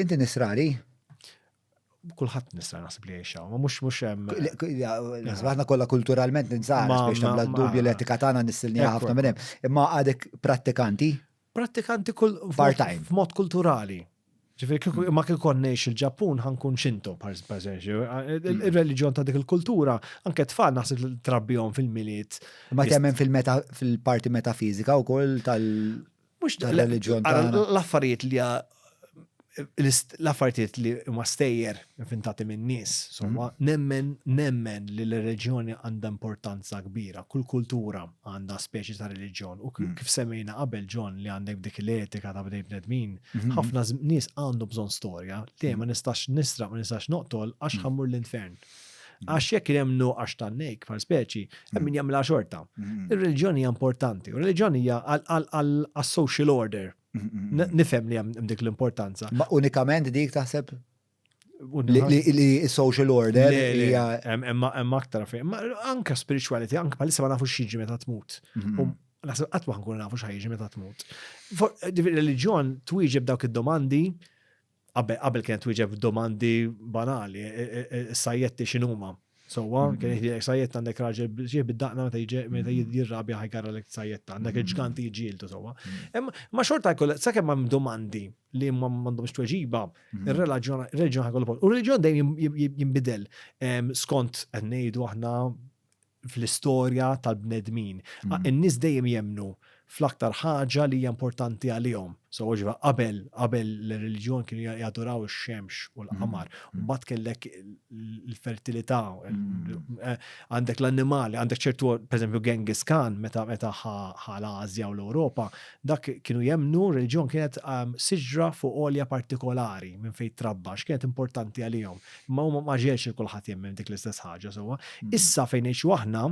Inti nisrani? kulħadd nista' naħseb li jgħixha, ma mhux mhux hemm. Aħna kollha kulturalment ninsaħ biex nagħmlu dubju l-etika tagħna nissilni ħafna minn hemm. Imma għadek prattikanti? Prattikanti kull part-time. F'mod kulturali. Ġifieri mm. ma kien kon ngħix il-Ġappun ħankun xintu, per eżempju. Mm. Ir-reliġjon ta' dik il-kultura, anke tfal naħseb li trabbihom fil-miliet. Ma temmen fil-parti metafizika wkoll tal- Mhux dan l-reliġjon tagħna. L-affarijiet li l-affarijiet li huma stejjer inventati minn nies, somma, mm. nemmen nemmen li l-reġjoni għandha importanza kbira, kull kultura għandha speċi ta' reliġjon u mm. kif semmejna qabel ġon li għandek dik l-etika ta' bdej bnedmin, mm-hmm. ħafna nies għandu bżonn storja li ma mm. nistax nisra ma nistax noqtol għax ħammur l-infern. Għax jekk hemm nuqqax ta' nejk bħal speċi, hemm min jagħmilha xorta. Ir-reliġjoni hija importanti, u r-reliġjoni hija għal-social order. Nifhem li hemm dik l-importanza. Ma unikament dik taħseb li social order hija hemm aktar fejn. Anka spirituality, anka bħalissa ma nafux xiġi meta tmut. Mhm. Um, naħseb qatt ma nkun nafu x'ħajġi meta tmut. Reliġjon twieġeb dawk id-domandi qabel kienet wieġeb domandi banali, e, e, e, sajjetti x'inhuma. Sowa, mm-hmm. kien jgħidlek sajjett għandek raġel biex bid-daqna meta jġi meta mm-hmm. jirrabja ħajgarra lek sajjetta, għandek mm-hmm. il-ġganti jġieldu sowa. Ma xorta jkoll sakemm hemm domandi li ma m'għandhomx tweġiba, ir-reliġjon ħajkollu post. U r-reliġjon dejjem jinbidel skont qed ngħidu aħna fl-istorja tal-bnedmin. Mm. In-nies dejjem jemnu fl-aktar ħaġa li hija importanti għalihom. So ġiva qabel qabel l-reliġjon kienu jaduraw ix-xemx u l-qamar. Mm. Mm. Mbagħad kellek l-fertilità, eh, għandek l-annimali, għandek ċertu pereżempju Genghis Khan meta meta ħal Asja u l-Ewropa, dak kienu jemnu reliġjon kienet ehm, siġra fuq olja partikolari minn fejn trabba, x'kienet importanti għalihom. Ma hu ma ġielx li kulħadd jemmen dik l-istess ħaġa sewwa. Mm. Issa fejn ngħixu aħna,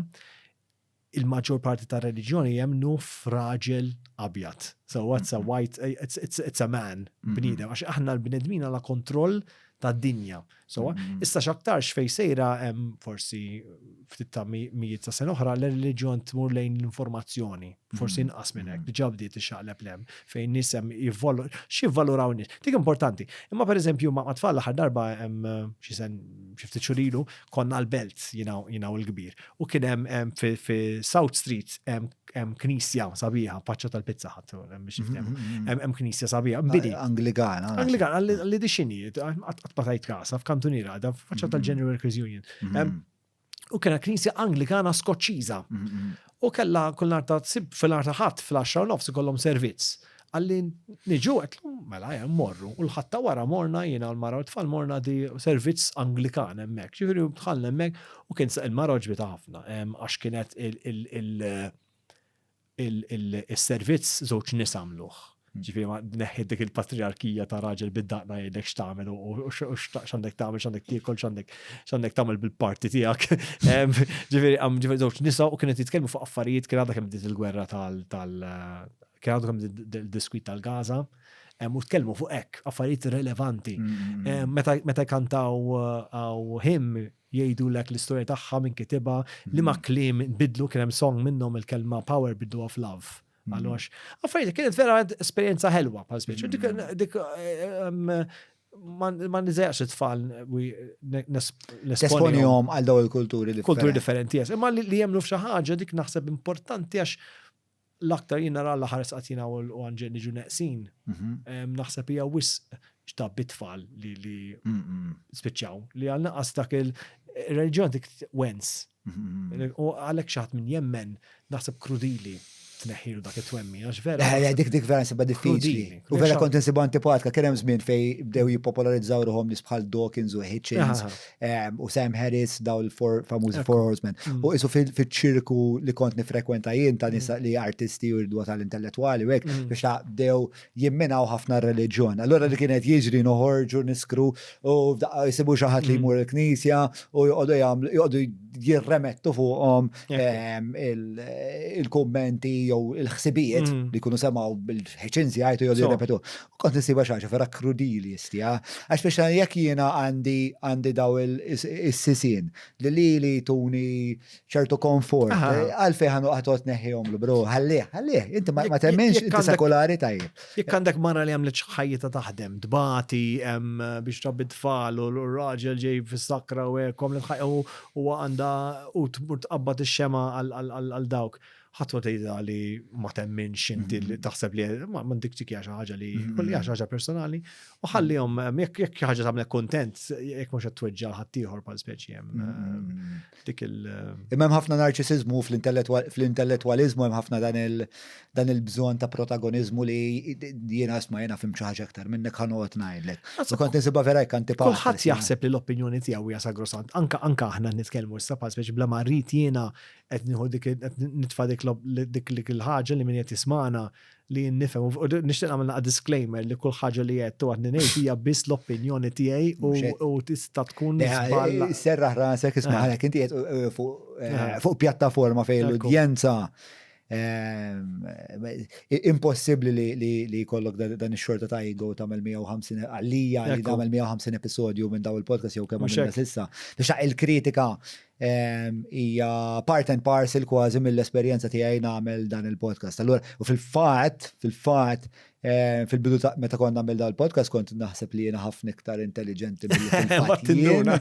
il-maġġor parti ta' reliġjoni jemnu fraġel abjad. So what's a mm-hmm. white, eh, it's, it's, it's a man, mm-hmm. bnidem, għax aħna l-bnedmin għala kontroll ta' dinja. So mm-hmm. issa xaktarx fej sejra hemm forsi ftit ta' mijiet ta' sen oħra l-reliġjon tmur lejn l-informazzjoni. forsi mm-hmm. inqas minn hekk, mm-hmm. diġà bdiet ixaqleb lem fejn nisem jivvolu, xi valuraw nies. Dik importanti. Imma pereżempju ma' tfal l-aħħar darba hemm xi sen xi ftit xurilu konna l-belt jinaw il-kbir. U kien hemm fi South Street hemm knisja sabiħa, paċċa tal-pizza ħadd mm-hmm, hemm knisja sabiħa. Bidi. Angligana. Angligana, li dixini, qatt patajt kasa f'kantuniera, faċċa tal-General Workers Union. U kena knisja Anglikana Skoċċiża. U kella kull nar ta' fil-nar ta' ħadd fil-10 nofs ikollhom servizz. Għalli niġu għet mela jem morru. U l-ħatta wara morna jiena u l-mara u tfal morna di servizz Anglikan hemmhekk. Ġifieri dħalna hemmhekk u kien il-mara ġbita ħafna għax kienet il- is-servizz żewġ nies għamluh. Ġifieri ma neħħi dik il-patriarkija ta' raġel bid-daqna jgħidlek x'tagħmel u x'għandek tagħmel, x'għandek tiekol, x'għandek tagħmel bil-parti tiegħek. Ġifieri għam ġifieri żewġ nisa u kienet jitkellmu fuq affarijiet kien għadha kemm bdiet il-gwerra tal kien għadha kemm il-diskwit tal-Gaza. U tkellmu fuq hekk affarijiet relevanti. Mm, mm, mm. Meta kantaw għaw him Jgħidulek l-istorja tagħha, min kitibha, liema kliem inbidlu, kien hemm song minnhom il-kelma power bidluha f'love. Għaliex, affarijiet li kienet vera esperjenza ħelwa bħal speċi. Dik dik ehm, ma nizajaqx it-tfal nesponjom għal daw il-kulturi differenti. Kulturi differenti, jes. Imma li jemnu f'xi ħaġa dik naħseb importanti għax l-aktar jien nara l-aħħar sqatina u l-għanġel niġu neqsin, naħseb hija wisq xta bitfall li li spiċċaw li għal naqas dak il-reġjon dik wens. U għalek xaħat minn jemmen naħseb krudili tneħħilu dak it-twemmi, għax vera. Eh, eh, dik dik vera nsibba diffiċli. U vera kont nsibu antipatka, kien hemm żmien fej bdew jippopolarizzaw ruħom nis bħal Dawkins u Hitchens, u Sam Harris daw l-four famużi Four Horsemen. Mm. U isu fil-ċirku li kont nifrekwenta jien ta' nisa mm. li artisti u rdwa tal-intellettuali u hekk mm. biex ta' dew jimminaw ħafna r-reliġjon. Allora li kienet jiġri noħorġu niskru u jisibu xi ħadd li jmur il-knisja u joqogħdu jagħmlu joqogħdu jirremettu fuqhom il-kummenti jew il-ħsibijiet li jkunu semgħu bil-ħeċin żjajtu jew jirrepetu. Kont nisiba xaġa vera krudili jistija, għax biex jekk jiena għandi għandi daw il-sisin li li li tuni ċertu konfort, għalfej ħanu għatot neħjom l-bro, għallih, għallih, inti ma temmenx inti sekolari tajjeb. Jekk għandek marra li għamlet ħajjita taħdem, dbati biex rabbi tfal u l-raġel ġej fis-sakra u għekom li tħajju u għanda u tmur tqabbat ix-xema għal dawk. ħadd ma tgħidha li ma temminx inti li taħseb li ma m'għandikx dik hija xi ħaġa li kull hija xi ħaġa personali u ħallihom ehm, jekk jekk xi ħaġa tagħmlek kuntent jekk mhux qed tweġġa' ħaddieħor bħal speċi hemm ehm, dik il. Ehm, Imma hemm ħafna narċisiżmu fl-intellettwaliżmu hemm ħafna dan il dan il-bżonn ta' protagoniżmu li jiena isma' jiena fim xi ħaġa aktar minnek ħanoqgħod ngħidlek. U kont nisibha vera jekk anti Kulħadd jaħseb li l-opinjoni tiegħu hija sagrosant. Anka anka aħna nitkellmu issa bħal speċi bla ma rrid jiena qed nieħu dik qed nitfa' dik dik dik il-ħaġa li min qed jismana li nifhem u nixtieq nagħmel naqa' disclaimer li kull ħaġa li qed u għadni ngħid hija biss l-opinjoni tiegħi u tista' tkun żball. Eh, serraħ rasek isma' eh. għalhekk inti qed eh, fuq pjattaforma fejn l-udjenza impossibbli li jkollok dan ix-xorta ta' ego tagħmel 150 għalija li tagħmel 150 episodju minn daw il-podcast jew kemm għamilna sissa. Biex il-kritika hija part and parcel kważi mill-esperjenza tiegħi nagħmel dan il-podcast. Allura, u fil-fatt, fil-fatt, eh, fil-bidu ta' meta kont nagħmel dan il-podcast kont naħseb li jiena ħafna iktar intelligenti mill-fattinduna.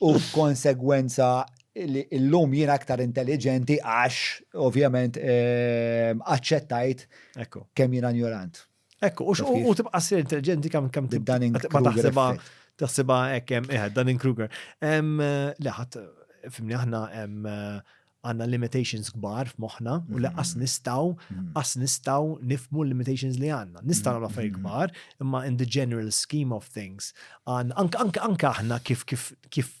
U konsegwenza li l-lum jiena aktar intelligenti għax, ovvjament, eh, aċċettajt kemm jiena ignorant. Ekku, u tibqa s intelligenti kam kam tibqa taħseba taħseba ekkem, eħed, eh, Dunning Kruger. Leħat, fimni aħna eh, għanna limitations kbar f'moħna u li qas mm-hmm. nistaw, mm-hmm. qas nistaw nifmu limitations li għanna. Nistaw għamla fej kbar, imma in the general scheme of things, anka aħna kif kif kif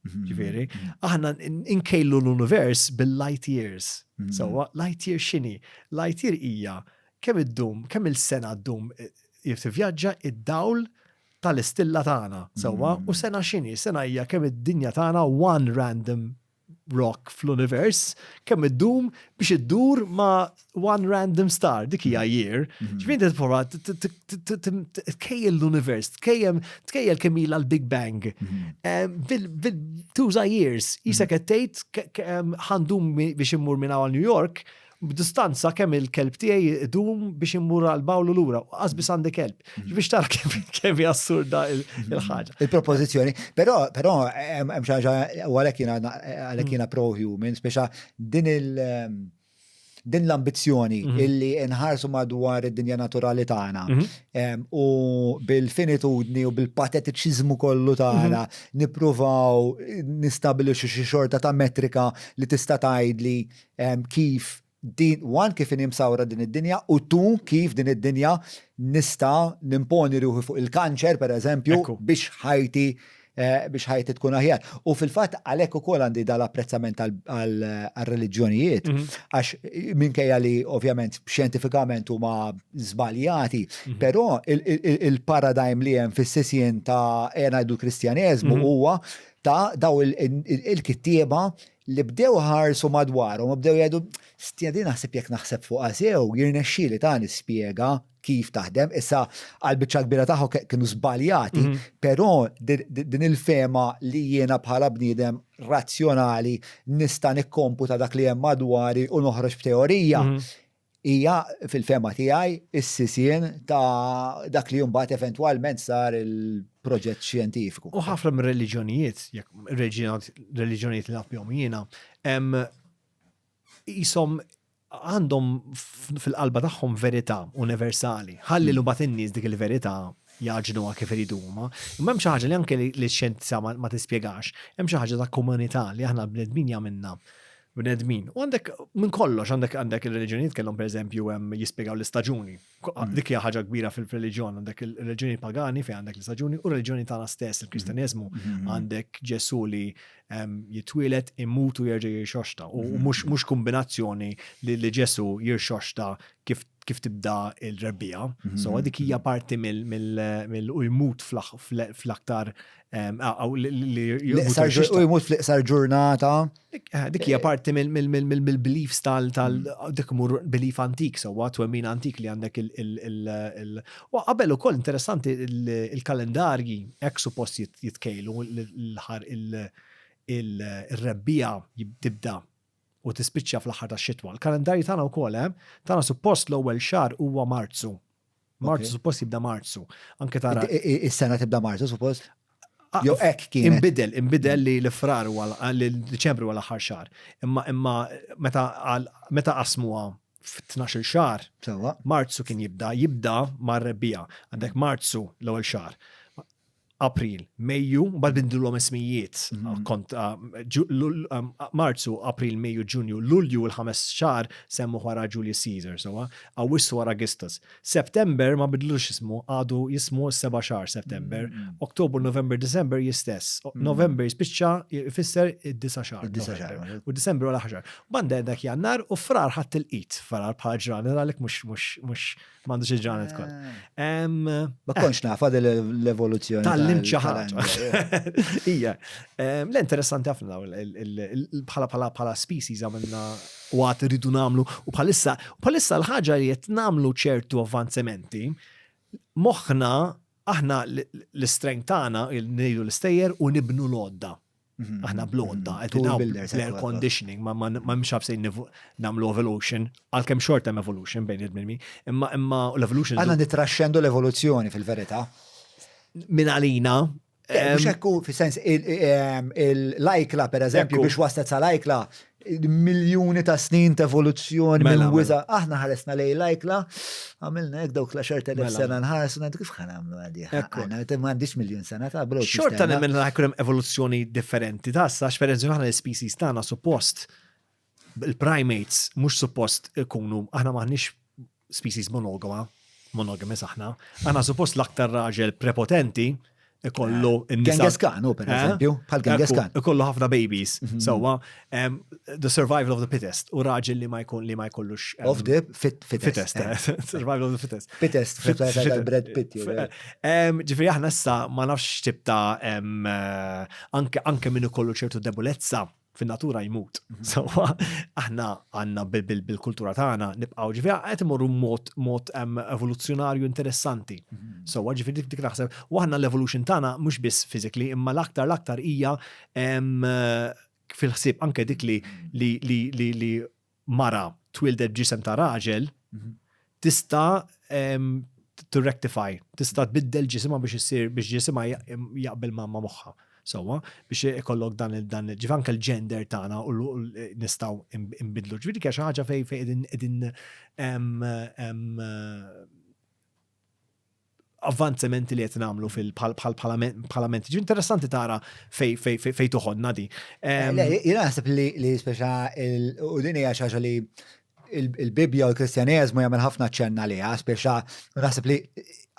Mm-hmm. Ġifieri, mm-hmm. aħna nkejlu l-univers bil-light years. Mm-hmm. Sewwa, light year x'inhi? Light year hija kemm iddum, kemm il-sena ddum eh, jif tivvjaġġa id-dawl tal-istilla tagħna. Sewwa, u sena x'inhi? Sena hija kemm id-dinja tagħna one random rock fl-univers, kemm iddum biex iddur ma' one random star, dik hija mm-hmm. year. Mm-hmm. Ġifieri qed prova tkejjel l-univers, tkejjem tkejjel kemm ilha l-Big Bang. Mm-hmm. Tuża years, jisa qed tgħid ħandum biex immur minn għal New York, b'distanza kemm il-kelb tiegħi idum biex immur għal bawlu lura, qasbis għandi kelb. Mhm. Biex tara kemm hija assurda il-ħaġa. Mhm. Il-propożizzjoni, però però hemm xi ħaġa għalhekk jiena għalhekk jiena pro-human, speċa din il- ehm, din l-ambizzjoni mm -hmm. illi nħarsu madwar id-dinja naturali tagħna mm -hmm. u bil-finitudni u bil-patetiċiżmu kollu tagħna mm -hmm. nippruvaw nistabilixxu xi xorta ta' metrika li tista' tgħidli kif din wan kif nimsawra din id-dinja u tu kif din id-dinja nista' nimponi ruħi fuq il-kanċer per eżempju biex ħajti biex ħajti tkun aħjar. U fil-fatt għalhekk ukoll għandi dal-apprezzament għal-reliġjonijiet, mhm. għax minkejja li ovvjament xjentifikament huma żbaljati, mhm. però il-paradigm li hemm fis-sisien ta' ngħidu kristjaneżmu mhm. huwa ta' daw il-kittieba li bdew ħarsu madwarhom, bdew jgħidu, stjadi naħseb jekk naħseb fuq għasew, jirnexxili ta' nispjega kif taħdem. Issa għal biċċa kbira tagħhom kienu żbaljati, però din il-fema li jiena bħala bniedem razzjonali nista' nikkomputa dak li hemm madwari u noħroġ b'teorija hija fil-fema tiegħi is-sisien ta' dak li mbagħad eventwalment sar il-proġett xjentifiku. U ħafna minn reliġjonijiet, jekk reliġjonijiet li nafhom jiena, hemm Qishom għandhom fil-qalba tagħhom verità universali. Ħalli l mbagħad in-nies dik il-verità jaġnuha kif iridu huma. Imma hemm xi ħaġa li anke li x-xjenza ma tispjegax, hemm xi ħaġa ta' komunità li aħna l-bnedmin jagħmilna bnedmin. U għandek minn kollox, għandek għandek ir-reliġjonijiet kellhom pereżempju hemm jispjegaw l-istaġuni. Mm. Dik hija ħaġa kbira fil-reliġjon, għandek il-reliġjoni pagani fejn għandek l-istaġuni u r-reliġjoni tagħna stess, il-Kristjaneżmu, mm. mm-hmm. għandek Ġesu li ehm, jitwielet immutu jerġa' jirxoxta u mm-hmm. mhux kombinazzjoni li Ġesu jirxoxta kif kif tibda il-rebbija. Mm-hmm. So dik hija parti mill u jmut fl-aktar ehm, li jmut fl-iqsar ġurnata Eh, dik hija eh, parti mill-beliefs tal mm. dik mur belief antik sewwa twemmin antik li għandek il u qabel ukoll interessanti il-kalendarji hekk suppost jitkejlu l-ħar il-rebbija tibda u tispiċċa fl-aħħar tax-xitwa. Il-kalendarji tagħna wkoll hemm, eh, tagħna suppost l-ewwel xahar huwa Marzu. Marzu, suppost jibda Marzu. Anke tara. Is-sena tibda Marzu, suppost. Ah, jo ek kien. Imbidel, imbidel li l-frar u li l-Deċembru għal aħħar xar. Imma imma meta meta qasmuha f-12 xar, Marzu kien jibda, jibda mar-rebbija. Għandek Marzu l-ewwel xar. April, Mejju, bad bindilhom ismijiet mhm. kont ah, ah, Marzu, April, Mejju, Ġunju, Lulju l-ħames xar semmu wara Julius Caesar, sewa, Awwissu wara Augustus. September ma bidlux ismu, għadu jismu s-seba xar September, mhm. Oktober, November, December jistess. Mhm. November jispiċċa jfisser id-disa xar. U December wara ħaxar. Banda dak jannar u frar ħadd il-qit, frar bħal ġraner għalek mux M'għandux il-ġranet kol. Ma eh. konx nafa l-evoluzzjoni. Tal-lim ċaħat. Ija. L-interessanti ħafna bħala bħala bħala species għamilna u għat rridu namlu u bħalissa bħalissa l-ħagġa li jett namlu ċertu avvanzementi moħna aħna l-strength tagħna il-nejlu l-istejjer u nibnu l-odda Mhm. Aħna blonda, mhm. qed nagħmlu l-air conditioning, ma mhux ħabsejn nagħmlu evolution, għalkemm xort hemm evolution bejn il-bnemi, imma imma l-evolution. Għandna nitraxxendu l-evoluzzjoni fil-verità. Min għalina, eh, Mux ekku, fi sens, il-lajkla, per eżempju, biex waslet sa lajkla, miljuni ta' snin ta' evoluzzjoni mela, minn wiza. Mela. Aħna ħaresna lej lajkla, għamilna jek dawk la xorta mela. sena nħarsu, għandu kif ħanamlu għadi. Għana, ma għandix miljon sena ta' bro. Xorta li minn għakrem evoluzzjoni differenti ta' sa' xferenzi għana l-species tana suppost il-primates mux suppost ikunu, aħna maħnix species monogama, monogamous aħna, għana suppost l-aktar raġel prepotenti ikollu eh, n-nisa. Genghis Khan, u per eh? eżempju, bħal Genghis Khan. Ikollu ħafna babies, mhm. sewa, the survival of the fittest, u raġel li ma jkun li ma jkollux. Of the fittest. Eh. Survival of the fittest. Fittest, fittest, bread pit. Ġifri, aħna issa ma nafx tibta anke minn ikollu ċertu debolezza fin-natura jmut. Sewwa aħna għandna bil-kultura tagħna nibqgħu ġifieri qed imorru mod evoluzzjonarju interessanti. Mhm. Sewwa ġifieri dik naħseb u aħna l-evolution tagħna mhux biss physically imma l-aktar l-aktar hija fil-ħsieb anke dik li li li li mara twieldet b'ġisem ta' raġel tista' to rectify, tista' tbiddel ġisimha biex issir biex ġisimha jaqbel ma' moħħa. Sewwa, biex ikollok dan dan ġif anke l-gender tagħna u nistgħu nbidlu. Ġifieri xi ħaġa fejn fejn qegħdin avvanzamenti li qed nagħmlu fil-parlament. Ġi interessanti tara fej fej fej toħodna di. Jiena naħseb li speċa u din hija xi li il-Bibja u l-Kristjaneżmu jagħmel ħafna ċenna li speċa naħseb li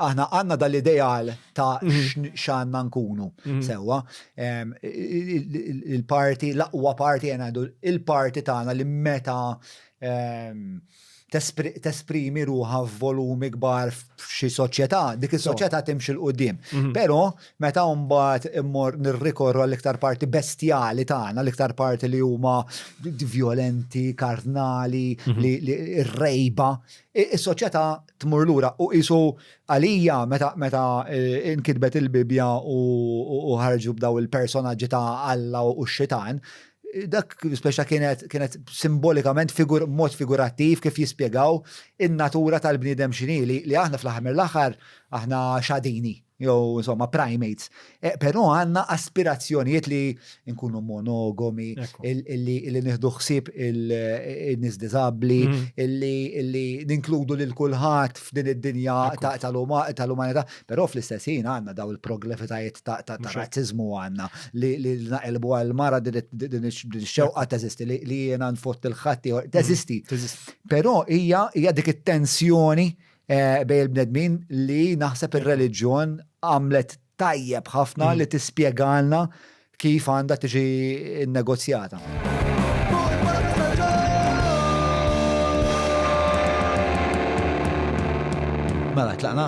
aħna għandna dal-ideal ta' mhm. x'għandna nkunu mhm. sewwa. Il-parti, l-aqwa parti jena il-parti tagħna li meta tesprimi ruħa f'volumi kbar f'xi soċjetà, dik is-soċjetà timxi l-qudiem. Mhm. Però meta mbagħad immor nirrikorru għall-iktar parti bestjali tagħna, l-iktar parti li huma violenti, karnali, mhm. li rejba, is-soċjetà tmur lura u qisu għalija meta meta e, nkitbet il-Bibja u ħarġu b'daw il-personaġġi ta' Alla u x-xitan, dak speċa kienet kienet simbolikament figur mod figurattiv kif jispjegaw in-natura tal-bniedem xini li, li aħna fl-aħħar l-aħħar aħna xadini jew insomma primates. E, Però għandna aspirazzjonijiet li nkunu monogomi, illi illi nieħdu ħsieb il-nies diżabbli, mm. illi illi ninkludu lil kulħadd f'din id-dinja tal-umanità. Però fl-istess ħin għandna daw il-proglefitajiet ta' razziżmu għandna li naqilbu għal mara din ix-xewqa teżisti li jiena nfott il-ħatti mm. teżisti. Però hija hija dik it-tensjoni eh, bej il-bnedmin li naħseb ir-reliġjon għamlet tajjeb ħafna mm. li tispjegalna kif għandha tiġi nnegozjata. Mela, tlaqna?